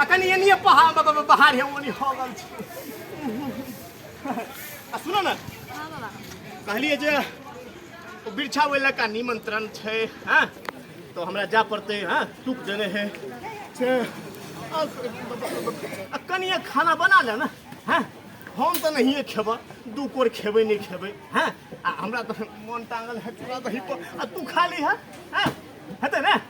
आ कनी एनिए पहाड़ ब- ब- पहाड़ है ओनी हो गल छी। आ सुनो ना हाँ बाबा कहलिए जे ओ बिरछा वेला का निमंत्रण छै हाँ तो हमरा जा पड़ते हाँ सुख देने है से आ, आ कनिए खाना बना ले ना हाँ हम तो नहिए खेब दू कोर खेबै नहीं खेबै हाँ आ हमरा तो मन टांगल है तोरा दही पर आ तू खा ली है हाँ हेतै ने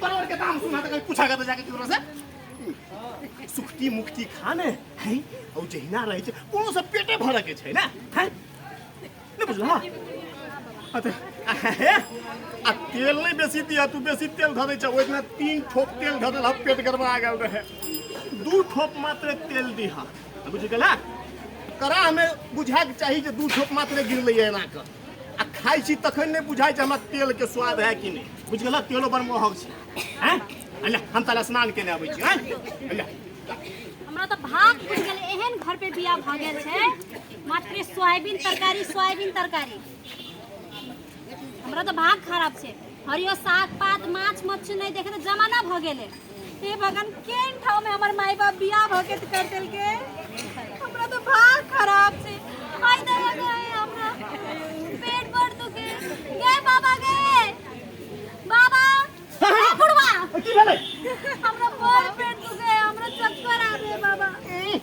तोरा के दाम सुना त पूछा के जाके केकरो से सुखती मुक्ति खाने है औ जहिना रहै छै कोनो से पेटे भरऽ के छै ने है ने बुझलौ अते आ तेल नहीं बेसी दिया तू बेसी तेल धऽ दै छै ओहि दिना तीन ठोप तेल धऽ देलह पेट गड़बड़ा गेल रहै दू ठोप मात्र तेल दिह बुझि गेल कड़ा हमे बुझाक चाही जे दू ठोप मात्र गिरलैए एना कऽ आ खाइ छी तखन नहि बुझाइ छै हमरा तेल के स्वाद है कि नहि बुझ गेल तेलो बड़ महग छै हैं अल्लाह हम ताला स्नान केने आबै छी हैं अल्लाह हमरा तऽ भाग बुझि गेल एहन घर पे बियाह भऽ गेल छै मात्र सोयाबीन तरकारी सोयाबीन तरकारी हमरा तऽ भाग खराब छै हरियो साग पात माछ मच्छी नहीं देखे तो जमाना भ गेले हे भगवान केन ठाव में हमर माई बाप बियाह भ के कर देल के हमरा तो भाग खराब से आई ना लगाए हमरा पेट भर दुखे गए बाबा गए बाबा ए बुढ़वा की भेलै हमरा बड़ पेट दुखे हमरा चक्कर आवे बाबा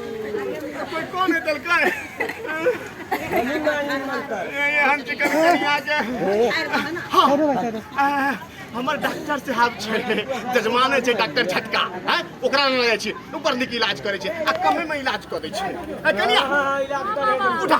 कोई कौन है तलका है ये ये हम चिकन करी आके हाँ आ, हमर डॉक्टर साहब छै जजमाने छै डॉक्टर झटका हैं ओकरा लग जाइ छी ऊपर निक इलाज करै छै आ कमे में इलाज कऽ दै छै ए, कनिया उठा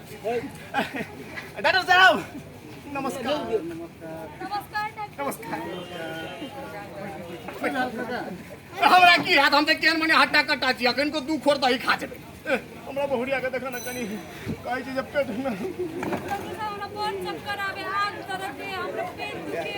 डॉक्टर साहब नमस्कार नमस्कार डॉक्टर नमस्कार हमरा की हाथ हम तऽ केहन मने हट्टा कट्टा छी अखन को दू खोर दही खा जेबै एह, हमरा बहुरिया के देखऽ ने कनी कहै छी जे पेट मे डॉक्टर साहब हमरा बहुत चक्कर आवे आग तरह के हमरा पेट दुखे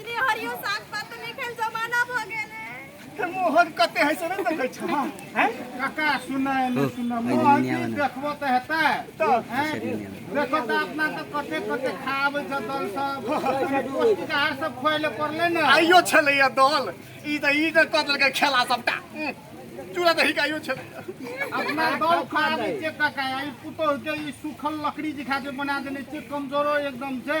इतनी हरियो साग पात तो नहीं खाइल जमाना भ गेल है ते मोहन कते है से नहीं देखे छ हैं काका सुना है ना सुना मोहन जी देखबो त हेतै तो हैं देखो त अपना त कते कते खाब छ दल सब पौष्टिक आहार सब खोइले पड़ले ना आइयो छले या दल ई त ई त कदल के खेला सबटा हम्म, चूड़ा दही का आइयो छले अपना दल खा दे छै काका ई पुतोह के ई सूखल लकड़ी जे खा जे बना देने छै कमजोरो एकदम छै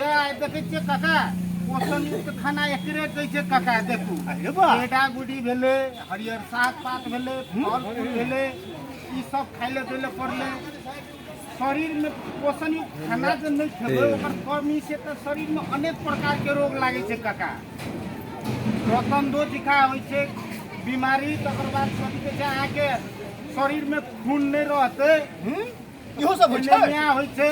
ये आइ देखै छियै काका पोषण युक्त खाना एकरे कहै छै काका देखू अरे बा पेटा गुडी भेलै हरियर साग पात भेलै फल फूल भेलै ई सब खाइले देले पड़लै शरीर में पोषण युक्त खाना जे नहि खेबै ओकर कमी से तऽ शरीर में अनेक प्रकार के रोग लागै छै काका रतनदो जिका होइ छै बीमारी तकर बाद कथी कहै छै अहाँके शरीर में खून नहि रहतै इहो सब होइ छै न्याय होइ छै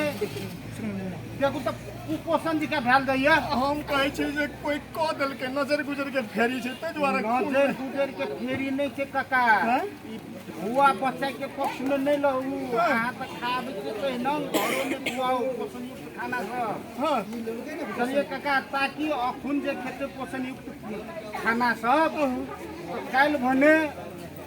देखू तऽ कुपोषण जी के भेल दैया हम कहै छी जे कोई कह देलकै नजर गुजर के फेरी छै ताहि दुआरे नजर गुजर के फेरी नहीं छै काका हैं? ई हुआ बच्चा के पक्ष में नहीं लहू अहाँ तऽ खाब के पहिने घरो में खुआओ पोषण युक्त खाना सब हाँ बुझलिए काका ताकि अखुन जे खेते पोषण युक्त खाना सब तऽ काल्हि भने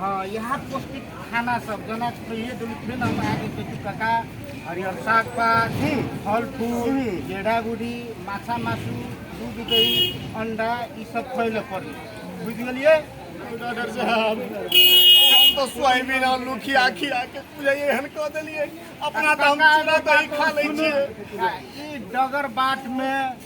हँ यहाँ पौष्टिक खाना सब जेना पहिले दिन फिर हम आगे खेती कका हरियर साग पात फल फूल गेड़ा गुड़ी माछा मासू दूध दही अंडा ई सब खैले पड़ी बुझ गेलिए डॉक्टर साहब हम तो सोयाबीन आलू खिया खिया के तुझे एहन कह देलिए अपना तो हम चूड़ा दही खा ले छिए ई डगर बाट में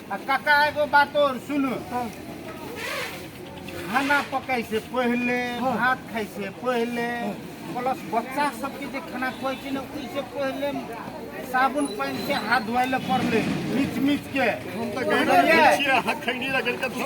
आ काका एगो बात और सुन खाना पकाई से पहले भात खाई से पहले प्लस बच्चा सबके जे खाना खुआई छै ने ओहि से पहले साबुन पानि से हाथ धोए ले पड़ले मीच मीच के हम तऽ गैर छियै हाथ खैनी रगड़ के धो